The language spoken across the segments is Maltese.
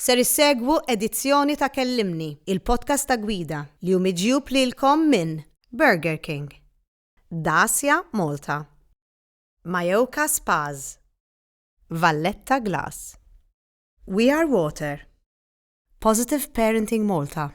Ser issegwu edizzjoni ta' Kellimni, il-podcast ta' gwida li hu miġjub lilkom minn Burger King, Dacia Malta, Mayoka Spas, Valletta Glass, We Are Water, Positive Parenting Malta,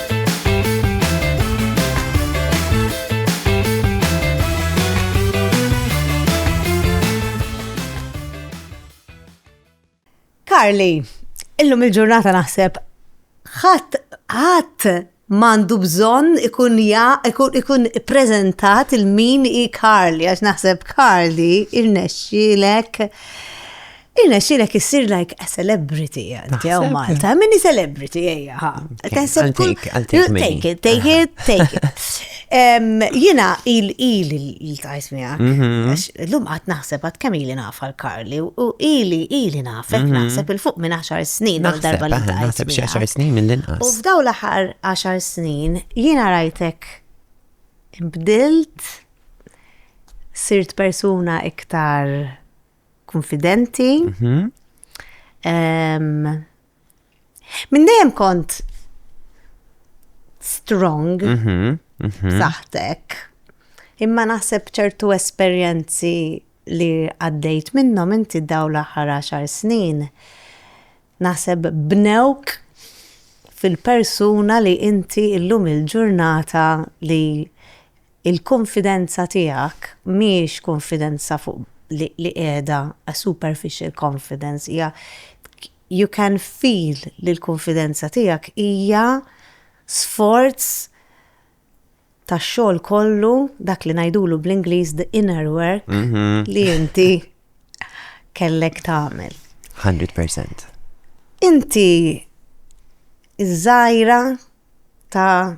Karli, illum il-ġurnata naħseb ħadd ħadd mandu bżon ikun ja, ikun, ikun prezentat il-min i Karli, għax naħseb Karli il-nexxilek Irnexxilek issir like a celebrity għanti għaw Malta. Minni celebrity għajja ħa. Taħseb kull. Take it, take it, take it. Jina il-il il-tajt mija. Mhm. L-lum għat naħseb għat kam ili naf għal-Karli u ili ili nafek mhm. naħseb il-fuq minn 10 snin għal darba li tajt. Naħseb xie 10 snin minn l-inqas. U f'daw l-ħar 10 snin jina rajtek imbdilt sirt persuna iktar konfidenti. Mhm. Minn dejjem kont strong, mhm, mhm. saħtek, imma naħseb ċertu esperjenzi li għaddejt minnhom inti daw l-aħħar 10 snin. Naħseb bnewk fil-persuna li inti illum il-ġurnata li Il-kunfidenza tiegħek mhijiex kunfidenza fuq li qiegħda a superficial confidence hija you can feel li l-kunfidenza tiegħek hija sforz tax-xogħol kollu dak li ngħidulu bl-Ingliż the inner work li inti kellek tagħmel. Hundred percent. Inti ż-żgħira ta'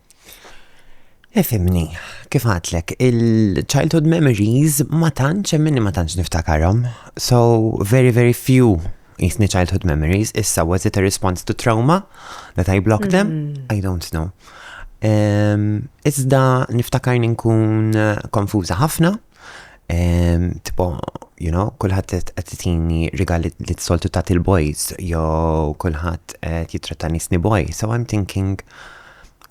Ifimni, kif għatlek, il-childhood memories ma tantx hemm minni ma tantx niftakarhom. So, very very few jisni childhood memories, issa was it a response to trauma that I blocked them? Mm. I don't know. Iżda niftakar nkun eh, konfuża ħafna, Tipo, you know, kullħat qed titini rigali li t-soltu ta' il-boys, jo kullħat qed jitratta nisni boy. So I'm thinking,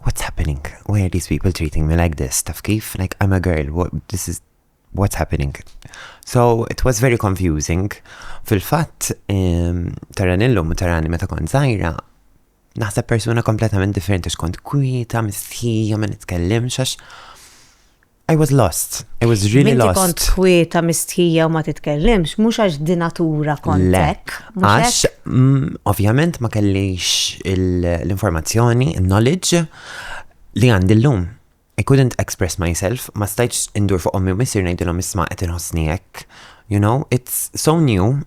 what's happening? Why are these people treating me like this? Taf kif? Like, I'm a girl, what, this is what's happening. So it was very confusing. Fil-fatt, um, taran illum u tarani meta kont zaħira, naħseb persuna kompletament differenti xkont kwita, mistħija, ma nitkellimx għax I was lost. I was really Minti lost. kont kwieta mistħija u ma titkellimx, mhux għax di natura kontek. Għax, mm, ovvjament, ma kellix l-informazzjoni, il-knowledge li għandi l-lum. I couldn't express myself, ma stajċ indur fuq ommi u missir nejdilom isma qed inħossni hekk. You know, it's so new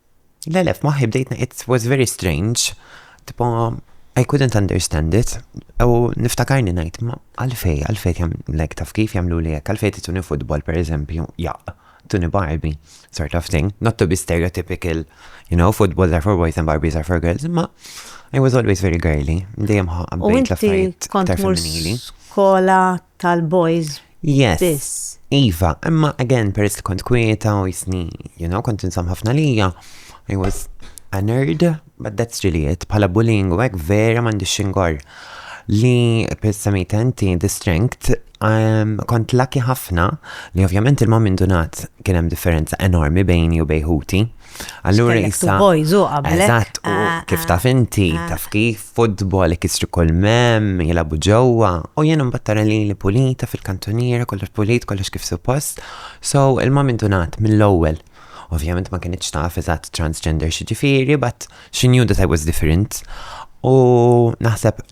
Le le, f'moħħi bdejtna it was very strange, tipo I couldn't understand it, u niftakarni ngħid ma għalfej, għalfej jam lek taf kif jagħmlu li hekk, għalfej tituni futbol pereżempju, jaq, tuni Barbie, sort of thing, not to be stereotypical, you know, footballs are for boys and Barbies are for girls, ma I was always very girly, dejjem ħabbejt l-affarijiet kont femminili. Skola tal-boys Yes. biss. Iva, imma again, peress li kont kwieta u jisni, you know, kont insam ħafna lija, I was a nerd, but that's really it. Bħala bullying u hekk vera m'għandix xingor. Li pissamita inti the strength, um, kont lucky ħafna li ovvjament il-mom indunat kien hemm differenza enormi bejni u bejħuti. Allura jista. Boys u qabel. Eżatt, u ah, kif ah, taf inti, ah. taf kif, futbol, ikisru kol mem, jilabu ġewwa, u jien mbattara li li pulita fil-kantoniera, kollox pulit, kollox kif suppost. So, il-mam intunat mill-ewwel. Ovvjament ma kienitx taf eżatt transgender xi ġifieri, but She knew that I was different. U naħseb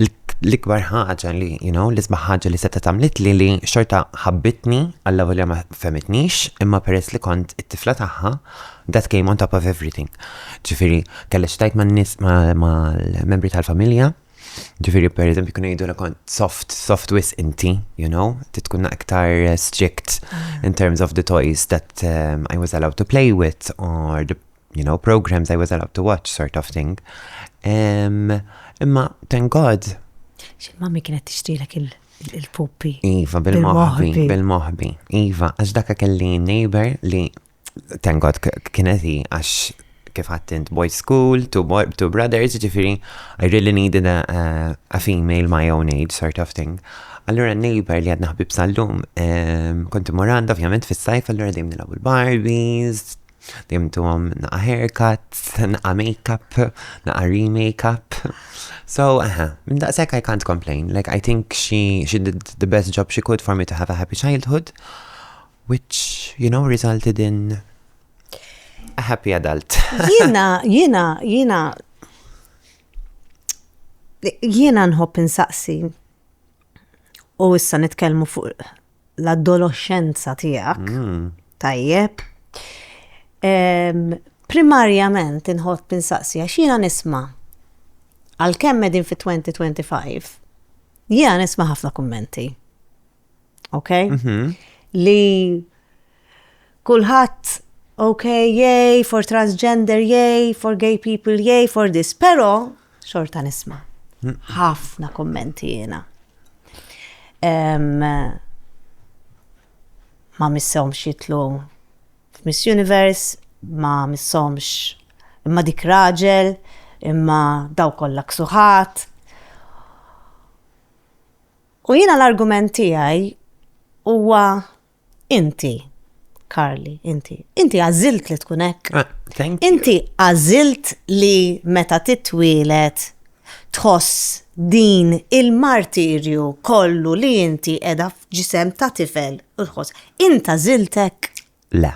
l-ikbar ħaġa li, you know, l-isbaħ ħaġa li seta tamlit li li xorta ħabbitni għalla volja ma femitnix, imma peress li kont it-tifla taħħa, that came on top of everything. Ġifiri, kalla xtajt ma nis ma l-membri tal-familja, ġifiri per eżempju kunu jidu kont soft, soft wis inti, you know, titkun aktar strict mm. in terms of the toys that um, I was allowed to play with or the you know, programs I was allowed to watch sort of thing. Imma, thank God. Xil mami kienet tixtilek il- il-puppi. Iva, bil-mohbi, bil-mohbi. Iva, għax dakka kelli neighbor li tengod kieneti għax kif għattint boy school, two, boy, two brothers, ġifiri, I really needed a, a, a female my own age sort of thing. Allura neighbor li għadna ħbib sal-lum, konti moranda ovvjament fis-sajf, allura dim nilabu l-Barbies, Dimtuhom naqa' haircut, naqa' makeup, naqa' remakeup. So, aha, minn daqshekk I can't complain. Like, I think she, she did the best job she could for me to have a happy childhood, which, you know, resulted in a happy adult. Jiena, jiena, jiena, jiena nħobb insaqsi u issa nitkellmu fuq l-adoloxxenza tiegħek, tajjeb. Primarjament inħobb insaqsi għax jiena nisma' għalkemm qegħdin fit-2025, jiena nisma' ħafna kummenti. Ok? Li Kulħadd ok, yay for transgender, yay for gay people, yay for this, però xorta nisma' ħafna kummenti jiena. Ma missomx jitlu f'Miss Universe, ma missomx imma dik raġel, imma daw kollha ksuħat. U jiena l-argument tiegħi huwa Inti, Karli, inti, inti għażilt li tkun hekk. Ah, thank you. Inti għażilt li meta titwielet tħoss din il-martirju kollu li inti qiegħda f'ġisem ta' tifel u tħoss. Inta żiltek? Le.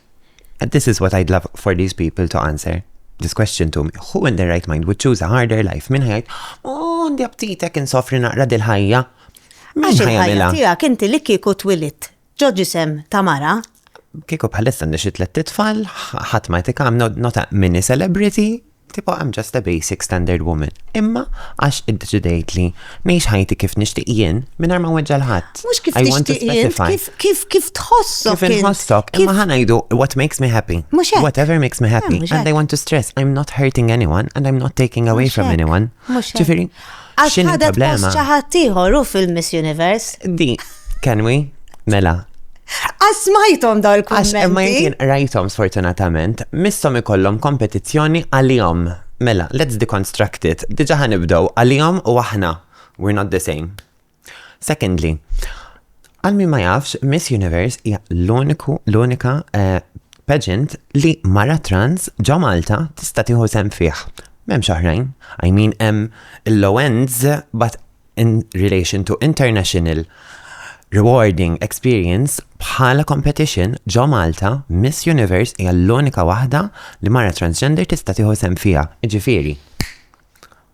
And this is what I'd love for these people to answer this question to me. Who in their right mind would choose a harder life? Min ħajt, oh, għandi aptitek insofri naqra dil-ħajja. Min ħajja tija, kinti li kiku twilit, ġoġi sem tamara. Kiku bħalissa nixit let titfall, ħat ma tika, I'm not, not a mini celebrity, Tipo I'm just a basic standard woman, imma għax iddeċidejt li ngħix ħajti kif nixtieq jien mingħajr ma nweġġa' 'l ħadd. Mhux kif tixtieq int, kif kif kif tħossok. Kif inħossok, imma ħa ngħidu what makes me happy. Mhux hekk. Whatever makes me happy and I want to stress I'm not hurting anyone and I'm not taking away from anyone. Mhux hekk. Ġifieri, Għax X'inhi ħadet post l-problema? xi ħadd ieħor hu fil-Miss Universe. Di, can we? Mela, Għax smajthom daw għax imma il-kummenti. jien rajthom sfortunatament, missom ikollhom kompetizzjoni għalihom. Mela, let's deconstruct it. Diġa ħanibdow għalihom u aħna. We're not the same. Secondly, għal min ma jafx, Miss Universe hija l-uniku, l-unika eh, pageant li mara trans ġo Malta tista' tieħu sem fih. M'hemmx oħrajn. I mean hemm il-low ends but in relation to international rewarding experience bħala competition ġo Malta Miss Universe hija l-unika waħda li mara transgender tista' tieħu sem fiha. Ġifieri,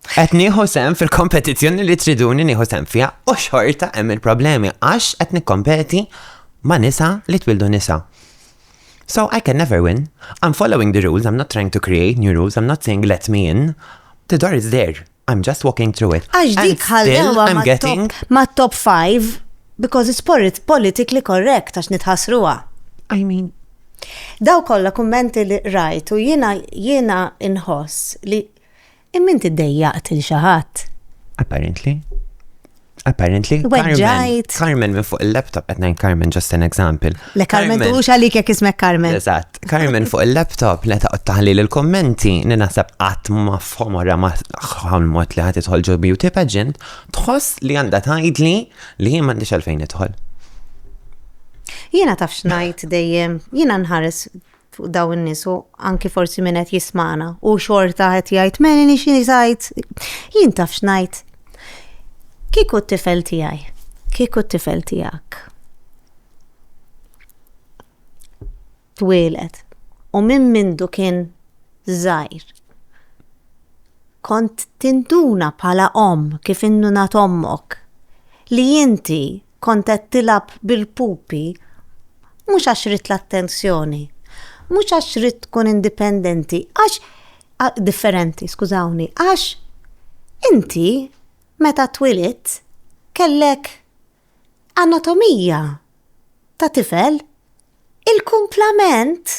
qed nieħu sem fil-kompetizzjoni li triduni nieħu sem fiha u xorta hemm il-problemi għax qed nikkompeti ma' nisa li twildu nisa. So I can never win. I'm following the rules, I'm not trying to create new rules, I'm not saying let me in. The door is there. I'm just walking through it. Għax dik ħallewa I'm getting ma' top 5 because it's politically correct għax nitħasruha. I mean, Daw kollha kummenti li rajtu jiena jiena inħoss li Imma inti ddejjaqt il xi ħadd. Apparently. Apparently. Weġġajt. Carmen minn fuq il-laptop, qed ngħid Carmen just an example. Le Carmen tuħux għalik jekk ismek Carmen. Eżatt. Carmen fuq il-laptop li taqgħod taħli l-kommenti li naħseb qatt ma fhom wara ma mod li ħadd idħol ġo beauty pageant, tħoss li għandha tgħidli li jien m'għandix għalfejn idħol. Jiena taf xnajt dejjem, jiena nħares fuq daw in-nies u anki forsi min qed jismana u xorta qed jgħid meni nix jgħid jien taf x'ngħid. Kieku t-tifel tiegħi, kieku t-tifel tiegħek. Twieled u minn mindu kien żgħir. Kont tinduna bħala om kif innunat ommok li inti kont qed tilab bil-pupi mhux għax rid l-attenzjoni, mhux għax rid tkun indipendenti, għax differenti, skużawni, għax inti meta twilit kellek anatomija ta' tifel il-kumplament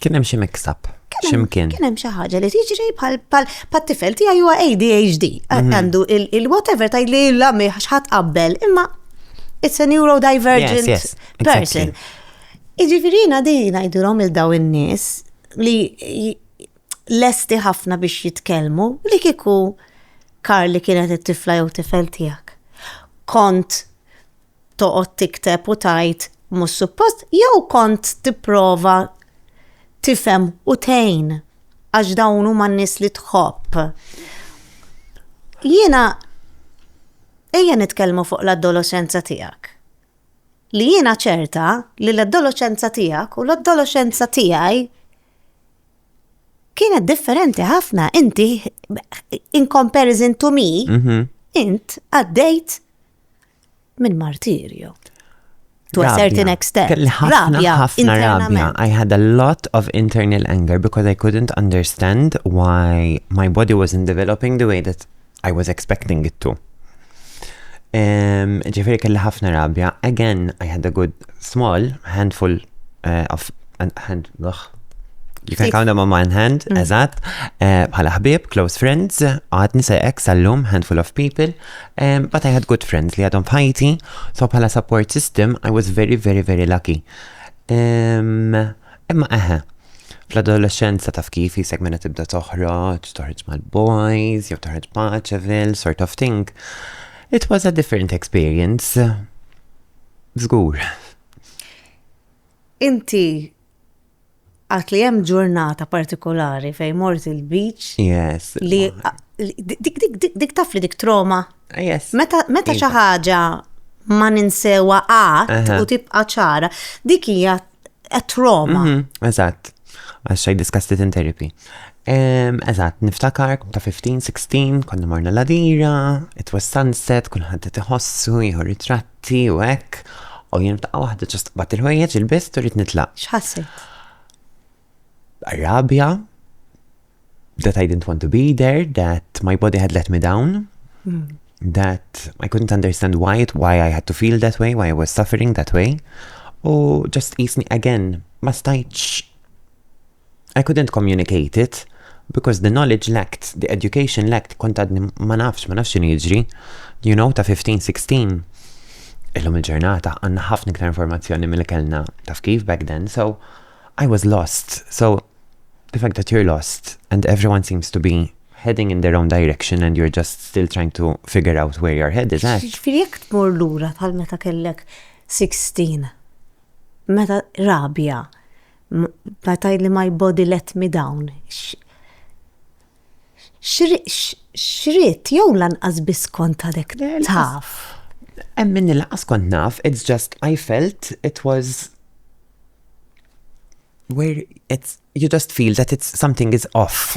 Kien hemm xi mix-up. Ximkien. Kien hemm xi ħaġa li tiġri bħal bħal tifel tiegħi huwa ADHD. Mhm. Għandu il-whatever tajli la mi ħadd qabbel, imma it's a neurodivergent person. Iġifirina di ngħidulhom il daw in-nies li lesti ħafna biex jitkellmu li kiku kar li kienet it-tifla jew tifel tiegħek. Kont toqgħod tikteb u tgħid mhux suppost jew kont tipprova tifhem u tgħin għax dawn huma n-nies li tħobb. Jiena ejja nitkellmu fuq l-adolescenza tiegħek. Li jiena ċerta li l-adolescenza tiegħek u l-adolescenza tiegħi kienet differenti ħafna inti in comparison to me, mhm. int għaddejt minn martirju. To a certain extent. Rabja, ħafna rabja. I had a lot of internal anger because I couldn't understand why my body wasn't developing the way that I was expecting it to. Ġifiri kelli ħafna rabja. Again, I had a good small handful uh, of hand, ugh, You can count them on one hand, mm. eżat, eh, bħala ħbib, close friends, għad nisa ex għallum, handful of people, Um, but I had good friends li għadhom f'ħajti, so bħala support system, I was very, very, very lucky. Um, imma eħe, fl-adolescenza taf kif jisek minna tibda toħroġ, toħroġ mal-boys, jew toħroġ paċevil, sort of thing. It was a different experience. Zgur. Inti Għat li hemm ġurnata partikolari fejn mort il-beach. Yes. Li dik dik dik dik taf li dik troma. Yes. Meta meta xi ħaġa ma ninsewa qatt u tibqa' ċara, dik hija troma. Mhm, eżatt. Għax I discussed it in therapy. Eżatt, niftakar kum ta' 15, 16, konna morna ladira, it was sunset, kullħat t-tħossu, jħor ritratti. Tea u hekk, u jien f'daqqa waħda ġast qbad il-ħwejjeġ il-bist u rrid nitlaq. X'ħassejt? Rabja, that I didn't want to be there, that my body had let me down, mm. that I couldn't understand why it, why I had to feel that way, why I was suffering that way. U just jisni again, ma stajċ I couldn't communicate it because the knowledge lacked, the education lacked, kont għadni ma nafx, ma nafx x'inhi jiġri, you know, ta' 15-16. Illum il-ġurnata għandna ħafna iktar informazzjoni mill kellna taf kif back then, so I was lost. So the fact that you're lost and everyone seems to be heading in their own direction and you're just still trying to figure out where your head is at. Ġifiri jek tmur lura bħal meta kellek 16, meta rabja, Bda tgħidli my body let me down. X'rid jew lanqas biss kont għadek taf. Hemm minni lanqas kont naf, it's just I felt it was where it's you just feel that it's something is off.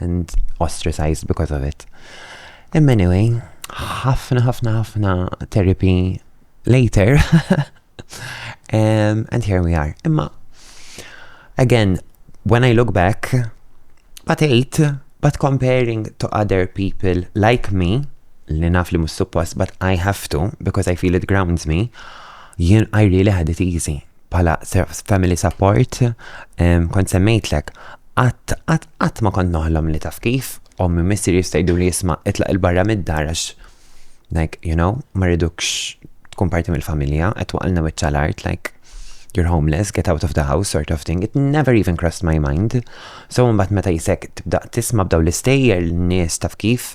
and ostracized because of it. Imma anyway, ħafna ħafna ħafna therapy later um, and here we are. Imma again, when I look back, but eight, but comparing to other people like me, li naf li mus suppost, but I have to because I feel it grounds me, jien I really had it easy. bħala family support, kont semmejtlek, qatt qatt qatt ma kont noħlom li taf kif, ommi missir jistajdu li jisma' itlaq il-barra mid-dar għax like, you know, ma rridukx tkun parti mill-familja, qed waqalna wiċċa l-art, like, you're homeless, get out of the house, sort of thing. It never even crossed my mind. So mbagħad meta jisek tibda tisma' b'daw l-istejjer l-nies taf kif,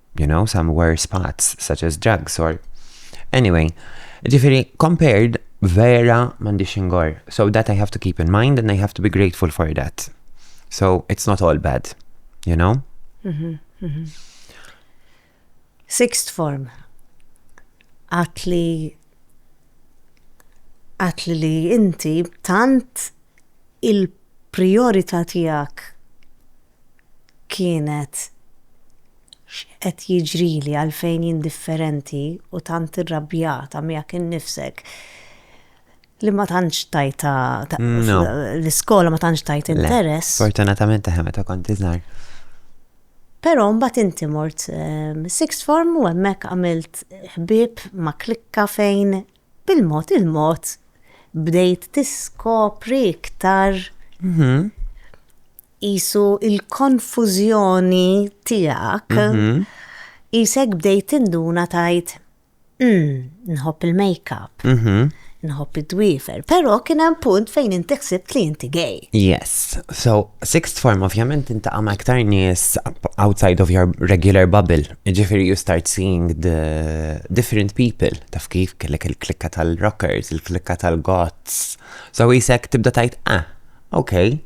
you know, some worse spots, such as drugs or anyway. Ġifiri, compared, vera mandi xingor. So that I have to keep in mind and I have to be grateful for that. So it's not all bad, you know? Mm -hmm, mm -hmm. Sixth form. Atli atli li inti tant il-priorità tijak kienet x'qed jiġrili għalfejn jien differenti u tant irrabjata miegħek innifsek li ma tantx tajta l-iskola ma tantx tajt interess. Fortunatament taħem meta kont iżgħar. Però mbagħad inti mort ehm, sixth form u hemmhekk għamilt ħbieb ma' klikka fejn Bil-mod il-mod bdejt tiskopri iktar qisu l-konfużjoni tiegħek, qisek bdejt tinduna tgħid, Umm, nħobb il-makeup, nħobb id-dwiefer, però kien hemm punt fejn inti ħsibt li inti gay. Yes. So, sixth form ovvjament tintaqa' ma' iktar nies outside of your regular bubble. Jiġifieri you start seeing the different people, taf kif kellek il-klikka tal-rockers, il-klikka tal-goths. So jisek tibda tajt, ah, ok,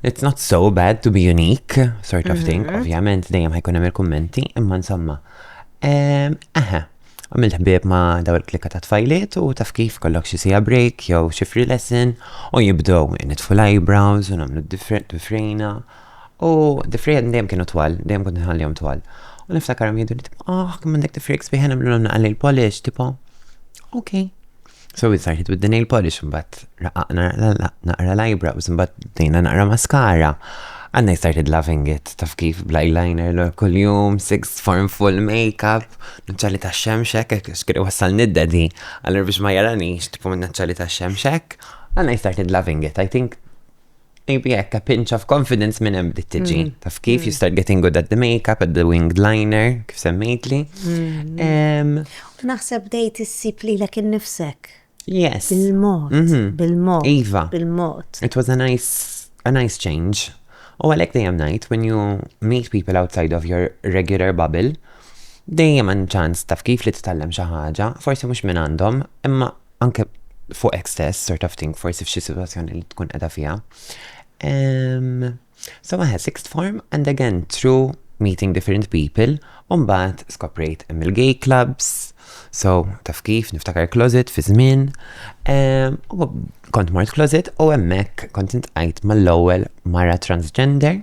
it's not so bad to be unique, sort of thing. Mhm. Ovvjament dejjem ħajkun hemm il-kummenti, imma insomma. Ehm, Aha, għamilt ħbieb ma' daw il-klikka ta' tfajliet u taf kif kollok xi sija break jew xi free lesson u jibdew nitfu l-eyebrows u nagħmlu different diffrejna. U d-difrijiet dejjem kienu twal, dejjem kont nħallihom twal. U niftakarhom jgħidu li tipo, ah, kemm għandek difrijiet sbieħ nagħmlilhom naqra nail polish, tipo, ok. So we started with the nail polish, mbagħad raqaqna naqra l-ajbra, u mbagħad bdejna naqra maskara. And I started loving it, taf kif bl-eyeliner l kuljum, six form full makeup, naċċali ta' xemxek, xkiri wassal nidda di, għallur biex ma jaranix, tipo minn naċċali ta' xemxek. And I started loving it, I think. Maybe hekk a pinch of confidence minn hemm bdiet tiġi. Mm. Taf kif you mm. start getting good at the makeup, at the winged liner, kif semmejtli. Mm. Naħseb dejt issib li lek innifsek. Yes. Bil-mod, mhm. bil-mod. Iva. Bil-mod. It was a nice, a nice change. U għalek dejjem najt, when you meet people outside of your regular bubble, dejjem għan ċans taf kif li t-tallem xaħġa, forse mux minn għandhom, imma anke fuqek stess, sort of thing, forsi f'xi situazzjoni li tkun edha fija. Um, so maħe, sixth form, and again, through meeting different people, umbat skoprejt hemm il-gay clubs, so taf kif, niftakar closet fi żmien, um, kont mort closet u hemmhekk kont intqajt mal-ewwel mara transgender,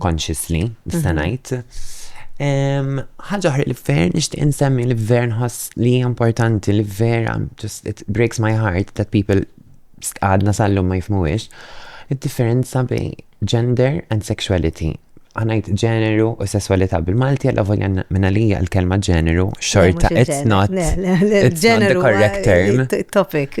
consciously, nista' ngħid. Ħaġa oħra li ver nixtieq insemmi li ver nħoss li hija importanti li ver just it breaks my heart that people għadna sallum ma jifmuwiex. Id-differenza bej gender and sexuality għanajt ġeneru u sessualità bil-Malti għalla volja minna li l-kelma ġeneru xorta it's not it's not the correct term topic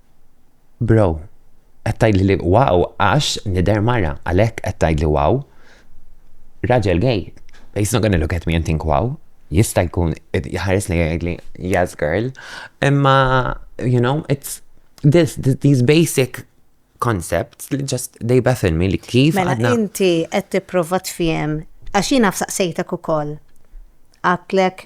Bro, qed tgħidli li wow għax nidher mara, għalhekk qed tgħidli wow? Raġel gay, he's not gonna look at me and think wow. Jista' jkun jħares lejja jgħidli yes girl, imma you know, it's this, these basic concepts li just they baffle me li kif Mela għadna. inti qed tipprova tfiem għax jiena fsaqsejtek ukoll. Għatlek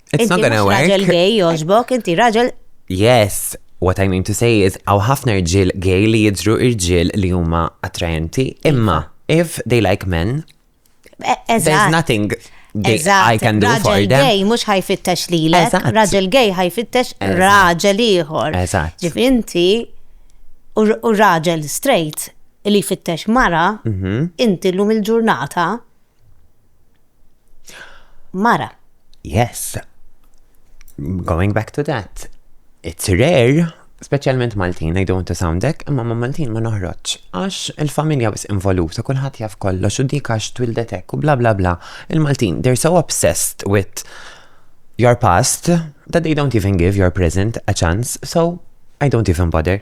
It's not gonna work. Raġel gay joġbok, inti raġel. Yes, what I mean to say is għaw ħafna rġil gay li jidru rġil li huma attrajenti, imma if they like men, e, there's nothing gay I can do for them. Raġel gay mux ħajfittex li l raġel gay ħajfittex raġel iħor. Ġif inti u raġel straight li fittex mara, mhm. inti l-lum il-ġurnata, Mara. Yes. Going back to that. It's rare, speċjalment Maltin, I don't want to sound dek, imma ma Maltin ma noħroġ. Għax il-familja bis involuta, kulħadd jaf kollox u dik għax twildetek u bla bla bla. Il-Maltin, they're so obsessed with your past that they don't even give your present a chance, so I don't even bother.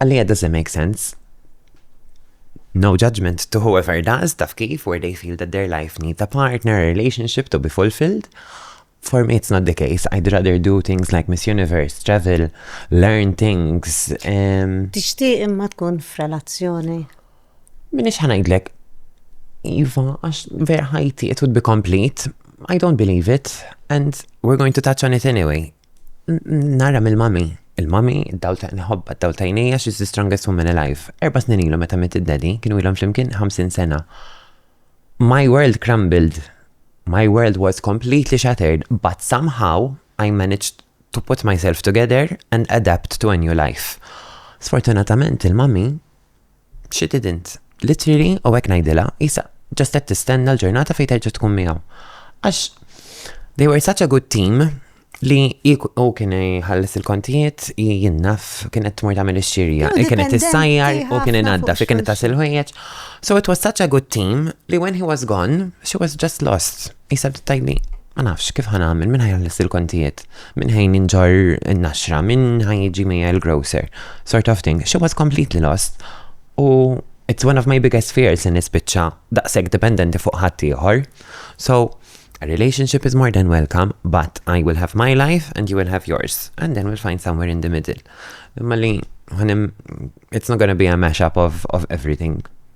Għalija does it make sense? No judgment to whoever does, taf kif, where they feel that their life needs a partner, a relationship to be fulfilled. For me, it's not the case. I'd rather do things like Miss Universe, travel, learn things. Um, Tixtieq imma tkun f'relazzjoni. Min ix ħanajdlek, Iva, għax vera ħajti, it would be complete. I don't believe it, and we're going to touch on it anyway. Nara mill-mami. Il-mami, id-dawl ta' nħobba, id-dawl ta' jnejja, she's the strongest woman alive. Erba snin ilu meta mitt id-daddy, kienu ilhom flimkien 50 sena. My world crumbled. My world was completely shattered, but somehow I managed to put myself together and adapt to a new life. Sfortunatament il-mami She didn't. Literally, u hekk ngħidilha, qisha ġast qed tistenna l-ġurnata fejn terġa' tkun miegħu. Għax they were such a good team li u kien jħalles il-kontijiet, jinnaf, kien qed tmur tagħmel ix-xirja, kien qed issajjar u kien inadda, fi kien qed tasil ħwejjeġ. So it was such a good team li when he was gone, she was just lost. Isa bdiet tgħidli, Ma nafx kif ħa nagħmel, min ħa jħallas il-kontijiet, min ħa jinġorr in-naxra, min ħa jiġi miegħi l-grocer, sort of thing. She was completely lost. U it's one of my biggest fears li nispiċċa daqshekk dipendenti fuq ħadd ieħor. So, a relationship is more than welcome, but I will have my life and you will have yours. And then we'll find somewhere in the middle. Imma li, it's not gonna be a mashup of, of everything.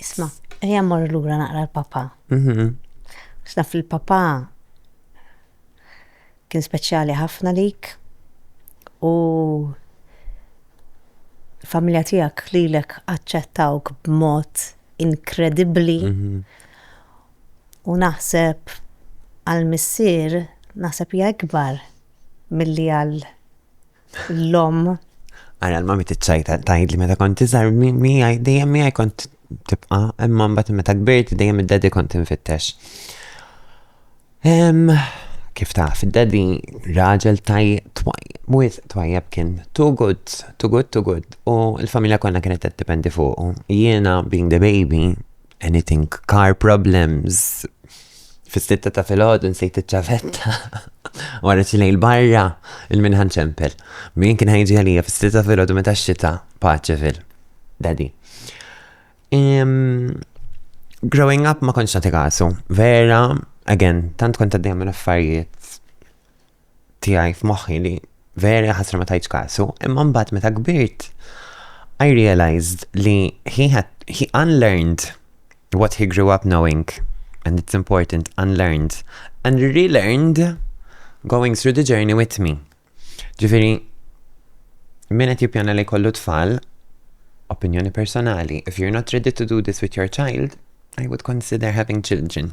Isma, ejja mmorru lura naqra l-papa. Mhm. X'naf il-papa kien speċjali ħafna lik u familja tiegħek lilek aċċettawk b'mod inkredibbli mhm. u naħseb għal missier naħseb hija ikbar milli għal L-om. Għara l-mami t-ċajta tajd li meta kont iżar mi għaj, dejjem mi għaj kont tibqa, imma mbagħad meta kbirt dejjem id-daddy kont infittex. Kif taf, id-daddy raġel tajjeb twajjeb, twajjeb kien too good, too good, too good, u l-familja konna kienet t-dependi fuq. Jiena, being the baby, Anything car problems. Fis-sitta ta' filgħodu nsejt iċ-ċavetta. Wara xi lejl barra, il-minħan ċempel. Min kien ħajġi għalija fis-sitta ta' filgħodu meta x-xita paċi fil. Daddy. Growing up ma konċ nagħti kasu. Vera, again, tant kont għaddejja minn affarijiet tiegħi f'moħħi li veri ħasra ma tajtx kasu, imma mbagħad meta kbirt I realized li he had he unlearned what he grew up knowing and it's important unlearned and relearned going through the journey with me. Ġifieri min qed jippjana li kollu tfal opinjoni personali, if you're not ready to do this with your child, I would consider having children.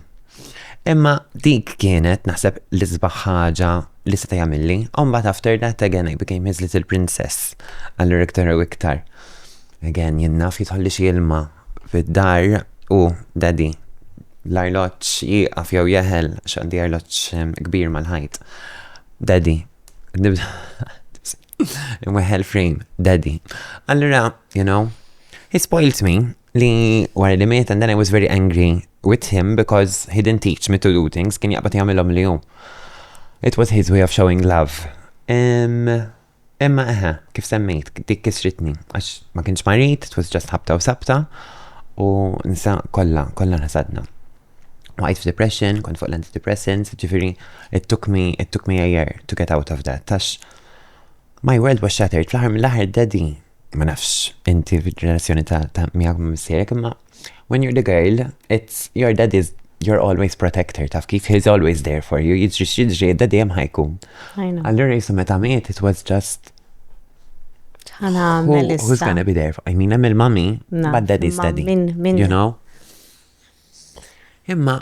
Imma dik kienet naħseb l-isbaħ ħaġa li seta' jagħmilli. Mbagħad after that again I became his little princess. Allura iktar u iktar. Again, jien naf jitħolli xi ilma fid-dar u daddy l-arloġġ jieqaf jew jeħel x'għandi arloġġ ehm, kbir mal-ħajt. Daddy, imweħel frame, daddy. Allura, you know, he spoilt me li wara li miet and then I was very angry with him because he didn't teach me to do things, kien jaqbad jagħmilhom li hu. It was his way of showing love. Imma eħe, kif semmejt, dik kisritni, għax ma kienx marit, it was just ħabta u sabta, u nsa kolla, kolla nasadna. Waqajt f'depression, kont fuq l-antidepressants, ġifiri, it took me, it took me a year to get out of that, tax my world was shattered, fl-ħar mill-ħar daddy ma nafx, inti fil-ġenerazzjoni ta' ta' miegħek ma' missierek, imma when you're the girl, it's your daddy's you're always protector, taf kif he's always there for you, jiġri x'jiġri, daddy hemm ħajkun. I know. Allura jisu meta miet, it was just Ħana who, għamel who's issa. gonna be there for, I mean, hemm il-mami, Naf, but daddy's ma daddy. min- min- You know? Imma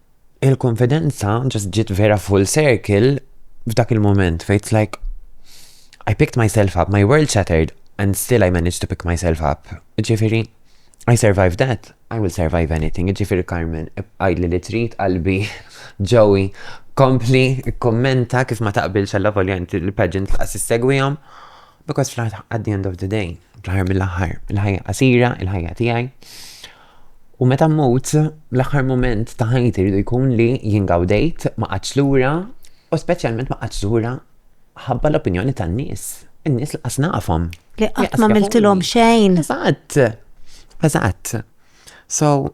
il-konfidenza ġast ġiet vera full circle f'dak il-moment fejn it's like I picked myself up, my world shattered and still I managed to pick myself up. Ġifieri, I survived that, I will survive anything. Ġifieri Carmen, ibqajli li trid qalbi ġowi kompli kommenta kif ma taqbilx għalla volja inti l-pageant laqas issegwihom. Because fl-aħħar at the end of the day, fl-aħħar mill-aħħar, il-ħajja qasira, il-ħajja tiegħi. U meta mmut, l-aħħar moment ta' ħajti rridu jkun li jingawdejt ma qatx lura u speċjalment ma qatx lura ħabba l-opinjoni tan-nies. In-nies li qas nafhom. Li qatt ma miltilhom xejn. Eżatt. Eżatt. So,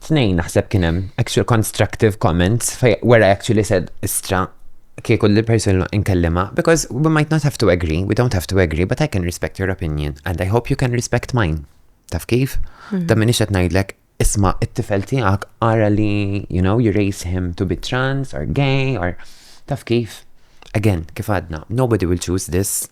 Tnejn naħseb kien hemm actual constructive comments fej where I actually said istra kieku li person inkellima because we might not have to agree, we don't have to agree, but I can respect your opinion and I hope you can respect mine. Taf kif? Hmm. Da minix qed ngħidlek isma' it-tifel tiegħek ara li you know you raise him to be trans or gay or taf kif? Again, kif għadna, nobody will choose this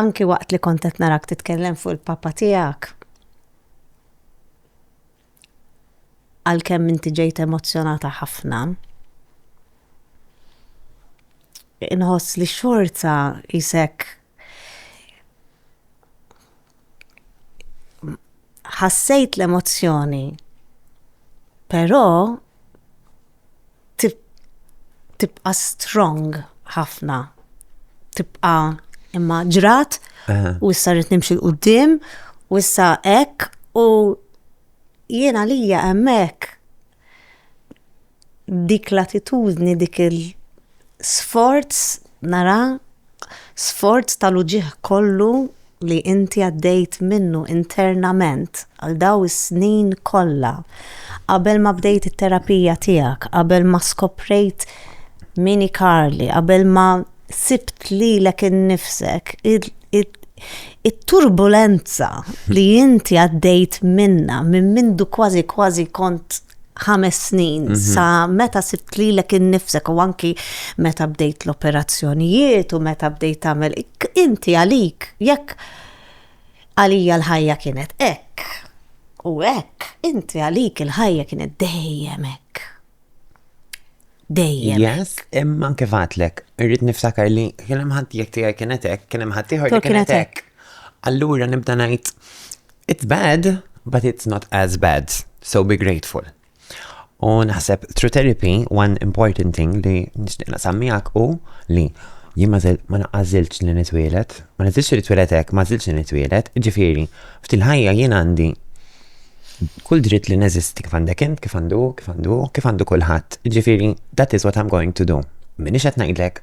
Anki waqt li kont qed narak titkellem fuq il-Papa tiegħek, għalkemm inti ġejt emozzjonata ħafna, inħoss li xorta jisek ħassejt l-emozzjoni, però tibqa strong ħafna. Tibqa imma ġrat u issa rrit nimxi l-qoddim u issa ek u jiena lija emmek dik l-attitudni, dik il-sforz nara Sforz tal-uġigħ kollu li inti għaddejt minnu internament għal dawn is-snin kollha, qabel ma bdejt it-terapija tiegħek, qabel ma skoprejt min hi Carly, qabel ma sibt lilek innifsek, it-turbulenza li inti għaddejt minnha minn mindu kważi kważi kont ħames snin mhm. sa meta sibt li l innifsek u anki meta bdejt l-operazzjonijiet u meta bdejt tagħmel inti għalik jekk għalija l-ħajja kienet ek u ek inti għalik il-ħajja kienet dejjem ek. Dejjem. Yes, imma kif għatlek, irrid niftakar li kien hemm ħadd jekk tiegħi kienet hekk, kien hemm ħadd ieħor kienet hekk. Allura nibda ngħid It's bad, but it's not as bad, so be grateful. U naħseb through therapy, one important thing li nixtieq naqsam miegħek u li jien ma naqażilx li nitwielet, ma nizilx li nitwielet hekk, ma żilx li nitwielet, ġifieri, f'til ħajja jien għandi kull dritt li neżisti kif għandek int, kif għandu, kif għandu, kif għandu kulħadd. Ġifieri, that is what I'm going to do. Minix qed ngħidlek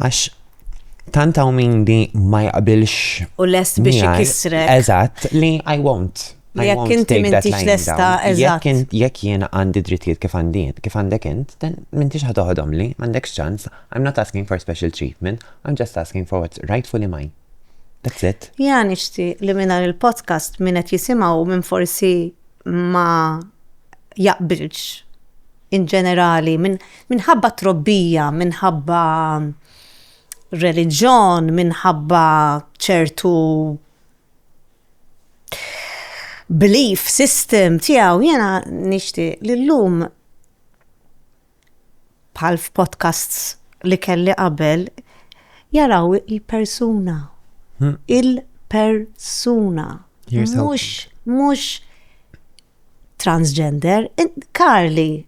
Għax tant hawn min li ma jaqbilx. U lest biex ikissrek. Eżatt, li I won't. Jekk inti mintix lesta, eżatt. Jekk jiena għandi drittijiet kif għandi kif għandek int, dan mintix ħatoħodhom li, m'għandekx ċans, I'm not asking for special treatment, I'm just asking for what's rightfully mine. That's it. Ja nixti li minna il-podcast minnet jisimaw minn forsi ma jaqbilx in ġenerali, minħabba trobbija, minħabba reliġjon, minħabba ċertu belief system tiegħu, jiena nixtieq li llum bħal f'podcasts li kelli qabel jaraw il-persuna. Hmm. Il-persuna. Mhux mhux transgender, Karli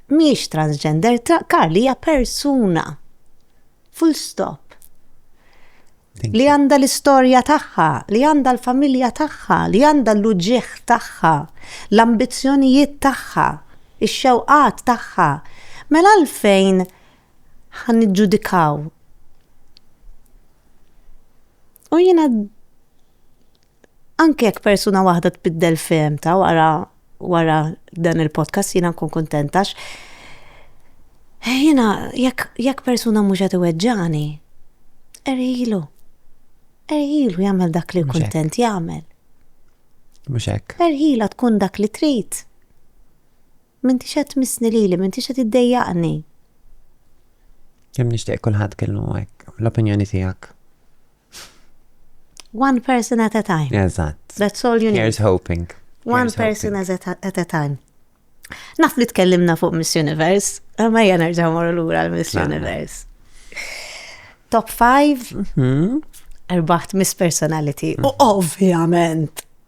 miex transgender, Karli hija persuna. Full stop. Li għanda l-istorja tagħha, li għanda l-familja tagħha, li għanda l-uġieħ tagħha, l-ambizzjonijiet tagħha, ix-xewqat tagħha. Mela għalfejn ħan ġudikaw. U jiena anke jekk persuna waħda tbiddel fehmta wara wara dan il-podcast jiena nkun kuntentax. Eh, jiena jekk jekk persuna mhux qed iweġġani, erħilu. Erħilu jagħmel dak li kuntent jagħmel. Mhux hekk. Erħila tkun dak li trid. M'intix qed tmissni lili, m'intix qed iddejjaqni. Kemm nixtieq kulħadd kellu hekk l-opinjoni tiegħek. One person at a time. Eżatt. That's all you need. Here's hoping. One Here's person hoping. As a, at a time. Naf li tkellimna fuq Miss Universe, ma hija nerġa' mor lura l-Miss Universe. Top 5 mhm. erbaħt Miss Personality. U mhm. ovvjament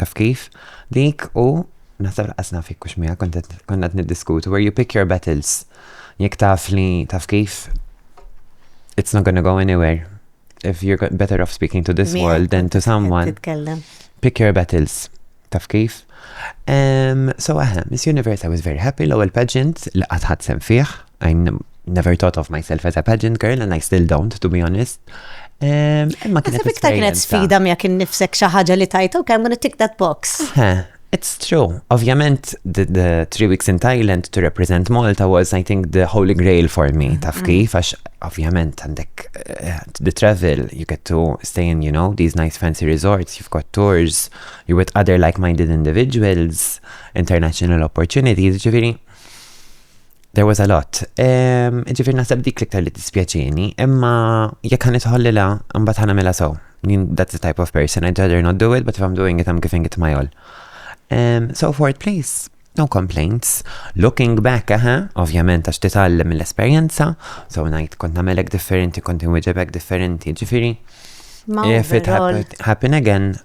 Taf kif? Dik u naħseb laqqas naf jekk hux miegħek kont qed niddiskutu where you pick your battles. Jekk taf li taf kif it's not gonna go anywhere. If you're better off speaking to this world than to someone. Pick your battles. Taf kif? Um, so, aha, Miss Universe, I was very happy l-ewwel pageant li qatt ħadd sem fih. I never thought of myself as a pageant girl and I still don't, to be honest. Imma kien iktar kienet sfida mija kien nifsek xi ħaġa li tajta u kemm gonna tick that box. It's true. Ovvjament, the, the three weeks in Thailand to represent Malta was, I think, the holy grail for me. Mm-hmm. Taf kif, għax ovvjament għandek eh, the travel, you get to stay in, you know, these nice fancy resorts, you've got tours, you're with other like-minded individuals, international opportunities, ġifiri. There was a lot. Ġifir naħseb dik liktar li tispjaċini, imma jekk ħan itħollila, mbagħad ħana mela so. That's the type of person. I'd rather not do it, but if I'm doing it, I'm giving it my all. Um, so for it, please. No complaints. Looking back, aha, ovvjament għax titgħallem mill-esperjenza, so ngħid kont nagħmelek differenti, kont inwieġebek differenti, ġifieri. If it happened again,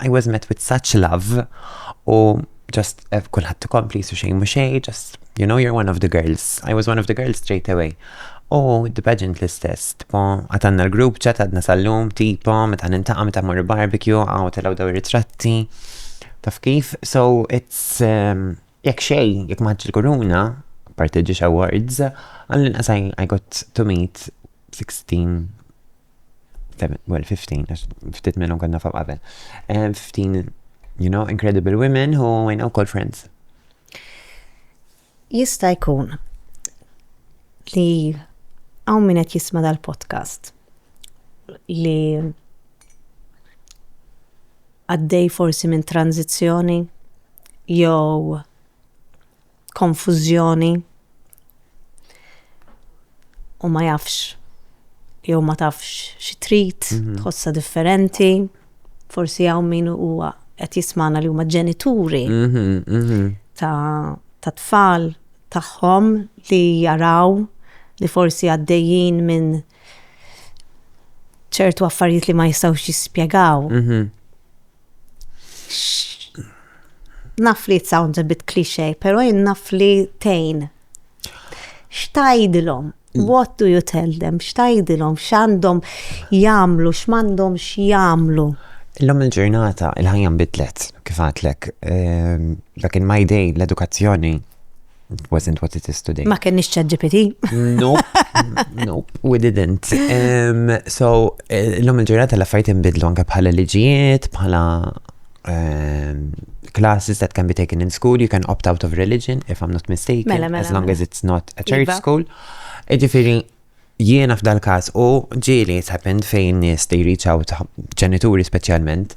I was met with such love u just eh, kullħat tkompli su xejn mhux xejn, just you know you're one of the girls. I was one of the girls straight away. U the pageant l-istess, tipo għatanna l-grupp ċat għadna sal-lum, tipo meta nintaqa meta morru barbecue, għaw telaw daw ritratti. Taf kif? So it's um, jekk xej, jekk maħġ il-kuruna, parteġiġ awards, għallin qasaj I got to meet 16 well, 15, għax ftit minnhom konna fam qabel. 15, eh, you know, incredible women who I know called friends. Jista' jkun li għaw min qed jisma' dal-podcast li għaddej forsi minn tranzizzjoni jew konfużjoni u ma jafx jew ma tafx xi trid, mhm. tħossha differenti, forsi hawn min huwa qed jismana li huma ġenituri mhm, mhm. ta' ta' tfal tagħhom li jaraw li forsi għaddejjin minn ċertu affarijiet li ma jistgħux jispjegaw. Naf li it sounds a bit cliché, pero jien naf li tejn. Xtajdilhom? Mm. What do you tell them? Xtajdilhom? X'għandhom jagħmlu? X'mandhom x'jagħmlu? Illum il-ġurnata il-ħajja nbidlet kif għatlek. Ehm, back in my day l-edukazzjoni It wasn't what it is today. Ma kenniex chat GPT. nope, nope, we didn't. Um, so, eh, l-lum il-ġurnata l-affarijiet imbidlu anke bħala liġijiet, bħala um, classes that can be taken in school, you can opt out of religion, if I'm not mistaken, mela, mela, as long mela. as it's not a church iva. school. Ġifiri, Jiena f'dal-każ u ġieli it's happened fejn nies they reach out, ġenituri speċjalment,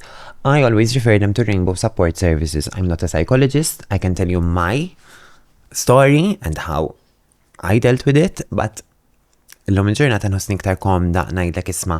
I always refer them to Rainbow Support Services. I'm not a psychologist, I can tell you my story and how I dealt with it, but illum il-ġurnata nħossni iktar komda ngħidlek isma'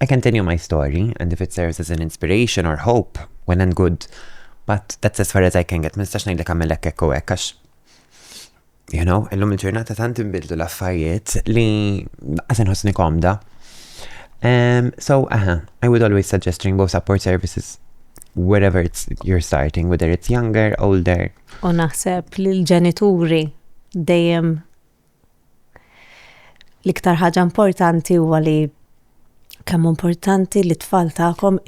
I continue my story, and if it serves as an inspiration or hope, when and good, but that's as far as I can get, ma nistax ngħidlek għamel hekk hekk u hekk għax you know, illum il-ġurnata tant inbidlu l-affarijiet li għasen ħosni komda. Um, so, aha, uh -huh, I would always suggest Rainbow Support Services wherever it's you're starting, whether it's younger, older. U naħseb li l-ġenituri dejjem L-iktar ħaġa importanti huwa li kemm importanti li tfal tagħkom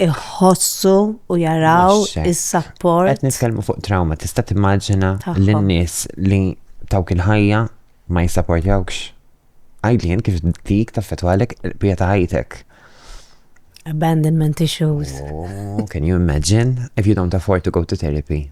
iħossu u jaraw is-sapport. Qed nitkellmu fuq trauma, tista' timmaġina lin-nies li tawk il-ħajja ma jissapportjawx. Għajdlien kif dik taffetwalek bija ta' ħajtek. Abandonment issues. Oh, can you imagine if you don't afford to go to therapy?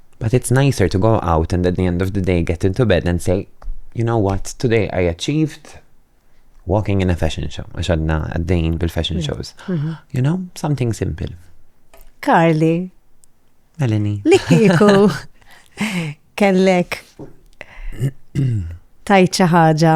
But it's nicer to go out and at the end of the day get into bed and say, you know what, today I achieved walking in a fashion show, għax għadna għaddejn bil-fashion mm. shows. Mm-hmm. You know, something simple. Carly. Melanie. Li kiku kellek tajċa ħaġa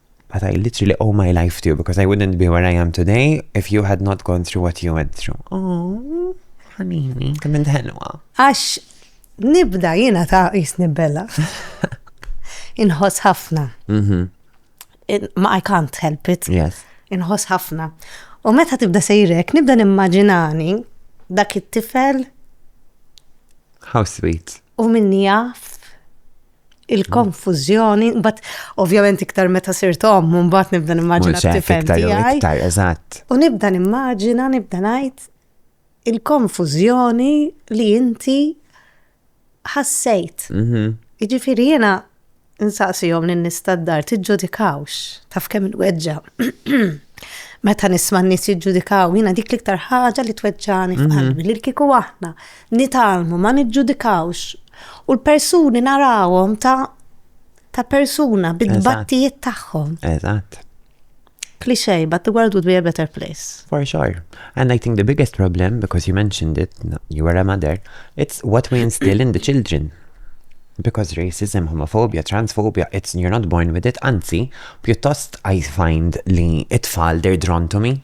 but I literally owe my life to you because I wouldn't be where I am today if you had not gone through what you went through. Oh, ħanini, kemm il-ħelwa. Għax nibda jiena ta' jisni bella. Inħoss ħafna. Mhm. In- Ma I can't help it. Yes. Inħoss ħafna. U meta tibda sejrek, nibda nimmaġinani dak it-tifel How sweet. u min jaf il-konfuzjoni, bat ovvjament iktar meta sirt om, bat nibda nimmaġina t-tifel tiegħi. Eżatt. U nibda nimmaġina, nibda ngħid il-konfuzjoni li inti ħassejt. Mhm. Jiġifieri jiena insaqsihom lin nistaddar tiġġudikawx taf kemm il-weġġa. Meta nisma' n-nies jiġġudikaw, jiena dik l-iktar ħaġa li tweġġani f'qalbi mhm. li kieku aħna nitgħallmu, ma niġġudikawx, u l-persuni narawhom ta' ta' persuna bit-tbattijiet tagħhom. Eżatt. Cliche, but the world would be a better place. For sure. And I think the biggest problem, because you mentioned it, you were a mother, it's what we instill in the children. Because racism, homophobia, transphobia, it's you're not born with it, anzi, pjuttost I find li it-tfal they're drawn to me.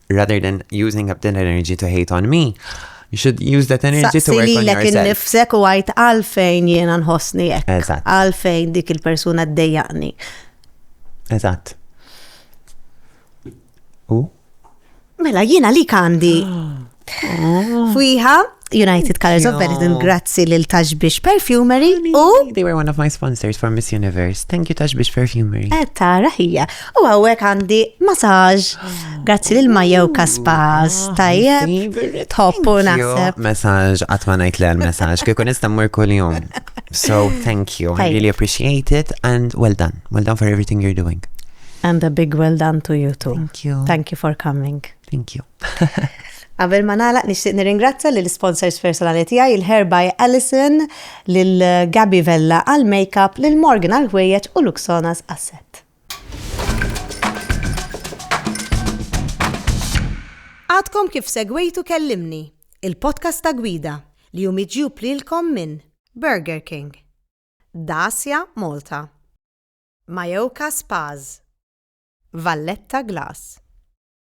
rather than using up that energy to hate on me, you should use that energy to work on yourself. nifsek u għajt għalfejn jiena nħossni jek. Eżatt. Għalfejn dik il-persuna d-dejjaqni. Eżatt. U? Mela, jiena li kandi. Fwiħa, United Colors of Benetton, grazzi lil Tashbish Perfumery u. They were one of my sponsors for Miss Universe. Thank you Tashbish Perfumery. Eh, tara hija. U għawek għandi masaġ. Grazzi lil Majew Kaspas. Ah, Tajjeb, tħoppu naħseb. Masaġ, għatma najt l masaġ, kikun istammur kull-jum. So, thank you. I really appreciate it and well done. Well done for everything you're doing. And a big well done to you too. Thank you. Thank you for coming. Thank you. Qabel ma nagħlaq nixtieq nirringrazzja lil sponsors personali tiegħi il-Hair by Alison, lil Gabby Vella għal makeup, lil Morgan għal ħwejjeġ u Luxonas għas-sett. Għadkom kif segwejtu Kellimni, il-podcast ta' gwida li hu miġjub lilkom minn Burger King, Dacia Malta, Mayoka Spas, Valletta Glass.